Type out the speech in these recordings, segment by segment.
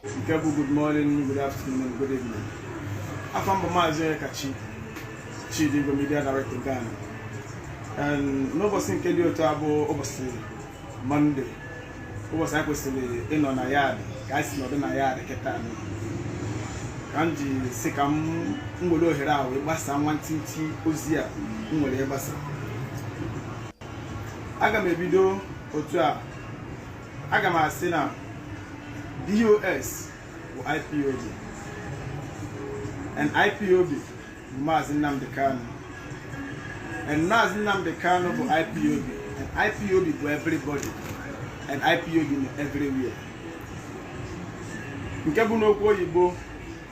nke bụ good morning good afternoon good evening afa m bụ maazị Onyekachi Chidi Igwe media director Ghana n'ụbọchị nke dị otu a bụ ụbọchị mọnde ụbọchị anyị kwesịrị ịnọ na yaadị ka anyị si nọdụ na yaadị kịta ka m ji sị ka m nwere ohere a wee gbasaa nwantịntị ozi a m nwere ịgbasa aga m ebido otu a aga m asị na DOS bụ IPOB and IPOB bụ Maazị Nnamdi Kanu and Maazị Nnamdi Kanu bụ IPOB and IPOB bụ everybody and IPOB nọ everywhere nke bụ n'okwu oyibo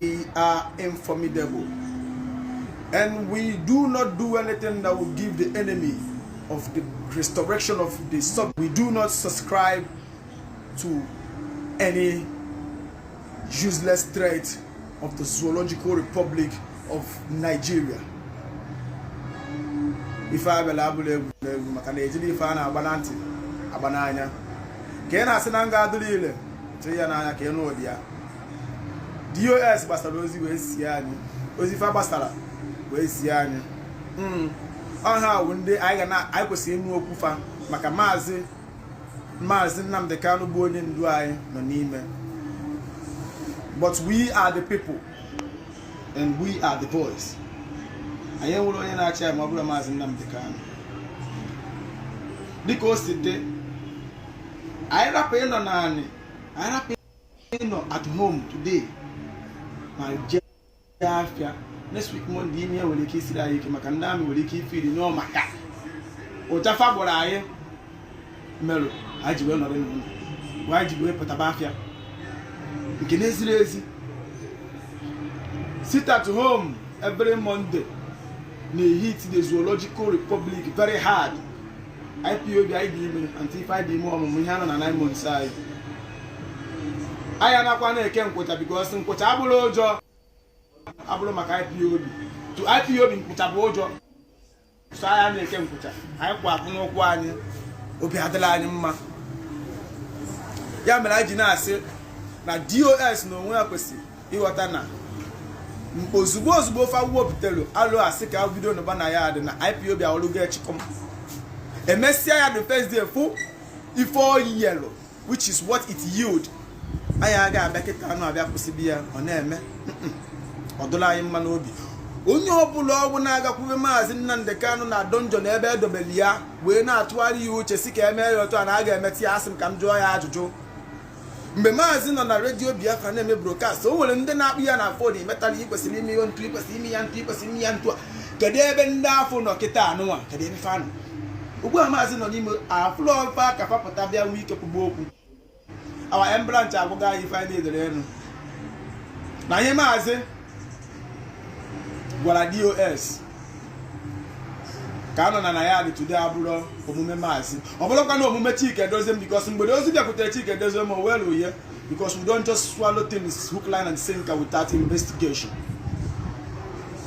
We are informidable and we do not do anything that will give the enemy of the restoration of the sub. We do not subscribe to any useless threat of the Zoological Republic of Nigeria. ife a bịara abụrọ egwuregwu maka na ejirọ ife a na-agba na ntị agba n'anya ka ị na-asị na nga adụrụ ile tụrụ ya n'anya ka ị nụ ụdị ya DOS gbasara ozi wee zie anyị ozi fa gbasara wee zie anyị hmm. ọ ha wụ ndị anyị kwesịrị ịnụ okwu fa maka maazị maazị Nnamdi Kanu bụ onye ndu anyị nọ n'ime but we are the people and we are the voice anyị enwerọ onye na-achị anyị ma ọ bụrọ maazị Nnamdi Kanu dịka o si dị anyị rapụ ịnọ naanị anyị rapụ ịnọ at home today ma jee afịa next week Monday ihe nwere ike isiri anyị ike maka ndị army nwere ike ifeel n'ọ maka ụja fa gbọrọ anyị merụ anyị ji wee nọrọ n'ụlọ bụ anyị ji wee pụtaba afịa nke na-ezirọ ezi sit at home every Monday na-ehit the zoological republic very hard IPOB anyị dị ime until ife anyị dị ime ọmụmụ ihe anọ na 9 months anyị anyị anakwa na-eke nkwụcha because nkwụcha abụrọ ụjọ abụrọ maka IPOB to IPOB nkwụcha bụ ụjọ so anyị na-eke nkwụcha anyị kwụ akwụ n'ụkwụ anyị obi adịrọ anyị mma ya mere anyị ji na-asị na DOS n'onwe ya kwesịrị ịghọta na ozugbo ozugbo ofe akwụkwọ butere alo a sị ka e bido nọba na yaadị na IPOB a ọlụgo echịkọm emesịa ya the first day fụ ife o yieldịlụ which is what it yield anyị aga-abịa kịta anụ abịa kwụsịbe ya ọ na-eme ọ dịrọ anyị mma n'obi onye ọbụla ọ bụ na a ga-akwụbe maazị Nnamdi Kanu na dungeon na ebe edobere ya wee na-atụgharị ya uche sị ka e mee ya otu a na a ga-emeti asị m ka m jụọ ya ajụjụ mgbe maazị nọ na redio biafra na-eme brokast o nwere ndị na-akpọ ya na fon imetala i kwesịrị ime ihe etu i kwesịrị ime ya etu i kwesịrị ime ya etu a kedu ebe ndị afụ nọ kịta anụnwa kedu ebe fa nọ ugbu a maazị nọ n'ime afụlọ m fa ka fa pụta bịa nwee ike kwube okwu awa embranch agwụga anyị ife anyị na-edere elu na ihe maazị gwara dos ka a nọ na na ya dị today abụrọ omume maazị ọ bụlọkwa na omume chike edoziem bikos mgbe ozi bịakwutere chike edoziem o welọ ya bikos we don't just swallow things hook line and sinker without investigation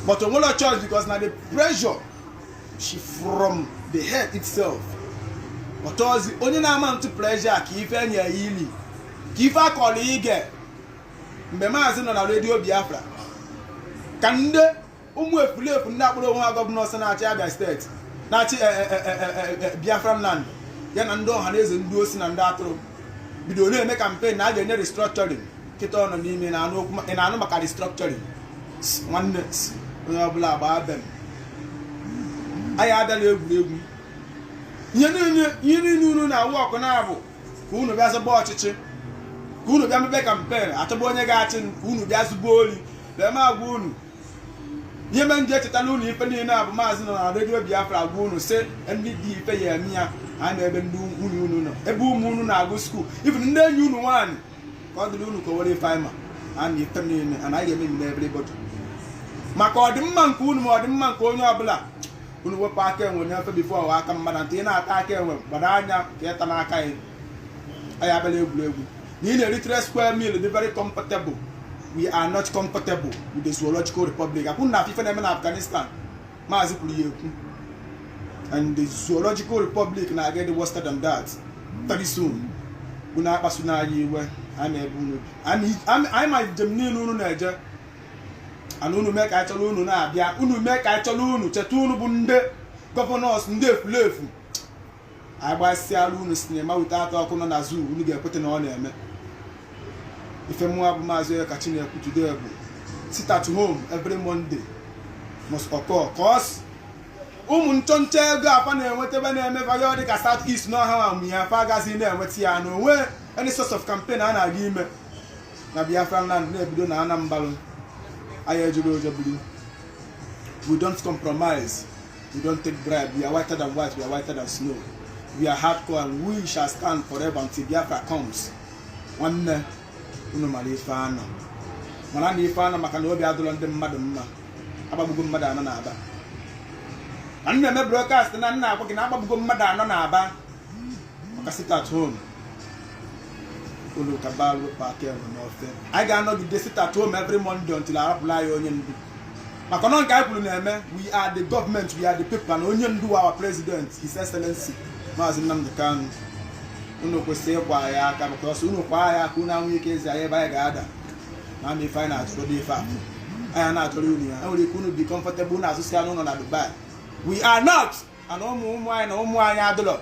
but o nwelọ choice bikos na the pressure si from the head itself ọ bụzi onye na-amount pressure ka ife enye ya ili ka ife akọrọ ige mgbe maazị nọ na redio biafra ka ndị ụmụ efulefu ndị akpọrọ onwe ha gọvanọs na-achị abịa steeti na-achị e, e, e, biafran land ya na ndị ọhaneze ndị osi na ndị atụrụ bido na-eme kampen na a ga-enye restructuring kịta ọ nọ n'ime ị na-anụ maka restructuring nwanne onye ọbụla gbaa be m anyị abịalọ egwuregwu ihe niile unu na-awụ ọkụ na-abụ ka unu bịa zọba ọchịchị ka unu bịa mebe kampen achọba onye ga-achị ka unu bịa zuba oli bịa ma agwa unu ihe mere m ji echetala unu ife niile a bụ maazị nọ na redio biafra agwa unu sị ụdị ife ya eme ya ha na ebe ndị nwunye unu nọ ebe ụmụ unu na-agụ skuul ebe ndị enyi unu nwaanyị ka ọ dịrị unu ka o were ife mara na ife niile anaghị eme na everybody maka ọdịmma nke unu ma ọdịmma nke onye ọbụla unu wepụ aka enwe n'ofe bifo ọ ghọọ aka mmadụ ntị ị na-ata aka enwe gbado anya ka ịta n'aka ya anyị abịalọ egwuregwu na ị na-eri three square meal dị very comfortable we are not comfortable with the zoological republic ọkwa unu na-afụ ife na-eme na afghanistan maazị kwuru ya ekwu and the zoological republic na ọ ga-adị worse than that very soon unu akpasuna anyị iwe anyị ma ebe unu bi Anyị- anyị ma njem niile unu na-eje and unu mee ka anyị chọrọ unu na-abịa unu mee ka anyị chọrọ unu cheta unu bụ ndị gọvanọs ndị efulefu anyị gbasịala unu sinima wute atọ ọkụ nọ na zoo unu ga-ekweta na ọ na-eme ife mụnwa bụ maazị onyekachi na-ekwu today bụ sit at home every monday must occur cause ụmụ nchọnchọ ego fa na-enweta ebe na-eme vayo dị ka south east na ọha ma ya fa agazi na-enweta ya na onwe any source of campaign a na-aga ime na Biafran land na-ebido na Anambra anyị ejilọ ụjọ biri we don't compromise we don't take bribe we are whiter than white we are whiter than snow we are hardcore and we shall stand forever until Biafra comes nwanne unu mara ife a nọ mara na ife a nọ maka na obi adịlọ ndị mmadụ mma agbagbugo mmadụ anọ na aba ka m na-eme brokast anụnwa agwa gị na agbagbugo mmadụ anọ na aba maka sit at home unu kaba alụ pati enwe n'ofe anyị ga-anọgide sit at home every Monday until arapụla anyị onye ndu maka na nke anyị kwuru na-eme we are the government we are the people na onye ndu our president his excellency maazị Nnamdi Kanu unu kwesịrị ịkwa anyị aka because unu kwa anyị aka unu enwe ike ezi anyị ebe anyị ga-ada na ama ife anyị na-achọrọ dị ife a anyị na-achọrọ unu ya enwere ike unu be comfortable unu azụsịa ụlọ na Dubai we are not and ụmụ ụmụ anyị na ụmụ anyị adịlọ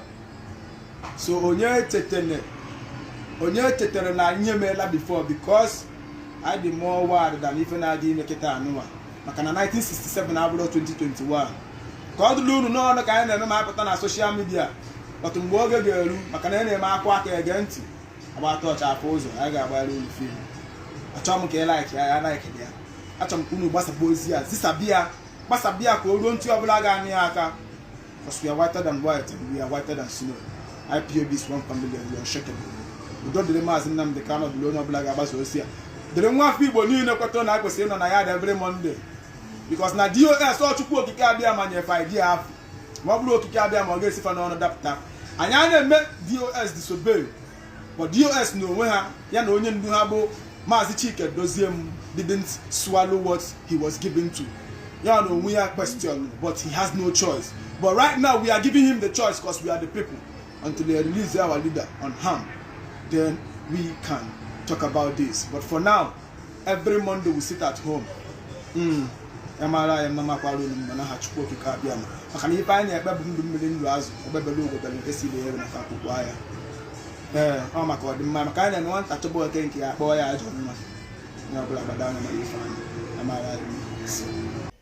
so onye chetara onye chetara na anyị emeela before because anyị dị more ward than ife na-adị ime kịta anụwa maka na 1967 abụrọ 2021 ka ọ dịla unu n'ọnụ ka anyị na-eme ma apụta na social media but mgbe oge ga-eru maka na ị na-eme akwa aka ege ntị agbata ọcha afọ ụzọ anyị ga-agbara unu film achọghị m ka ị like ya ya like ya achọrọ m ka unu gbasaba ozi a zisaba ya gbasaba ya ka o ruo ntị ọbụla ga-anụ ya aka because we are whiter than white and we are whiter than snow IPOB is one family and we are unshakable udo dịrị maazị Nnamdị Kanụ dịrị onye ọbụla ga-agbasa ozi a dịrị nwa afọ Igbo niile kwetara na a kwesịrị ịnọ na yard every Monday because na DOS ọ Chukwu okike abịama nye fa idea afụ ma ọ bụrọ okike abịama ọ ga-esi fa n'ọnụ dapụta anyị a na-eme DOS disobey but DOS n'onwe ha ya na onye ndu ha bụ maazị Chika Edoziem didn't swallow what he was given to ya na onwe ya question but he has no choice but right now we are giving him the choice because we are the people until they release our leader unharmed then we can talk about this but for now every monday we sit at home hmm. mara anyị mma makwara unu mma n'aha chukwu okike abịama maka na ife anyị na-ekpe bụ ndụ mmiri ndụ azụ egbe bere ugo bere nke sị ibe ya ebena nku kwaa ya ee ọ maka ọdịmma maka anyị na-eme nwata chọba oke nke ya a kpọọ ya ajọ nwa onye ọbụla gbada anya mara ife anyị mara anyị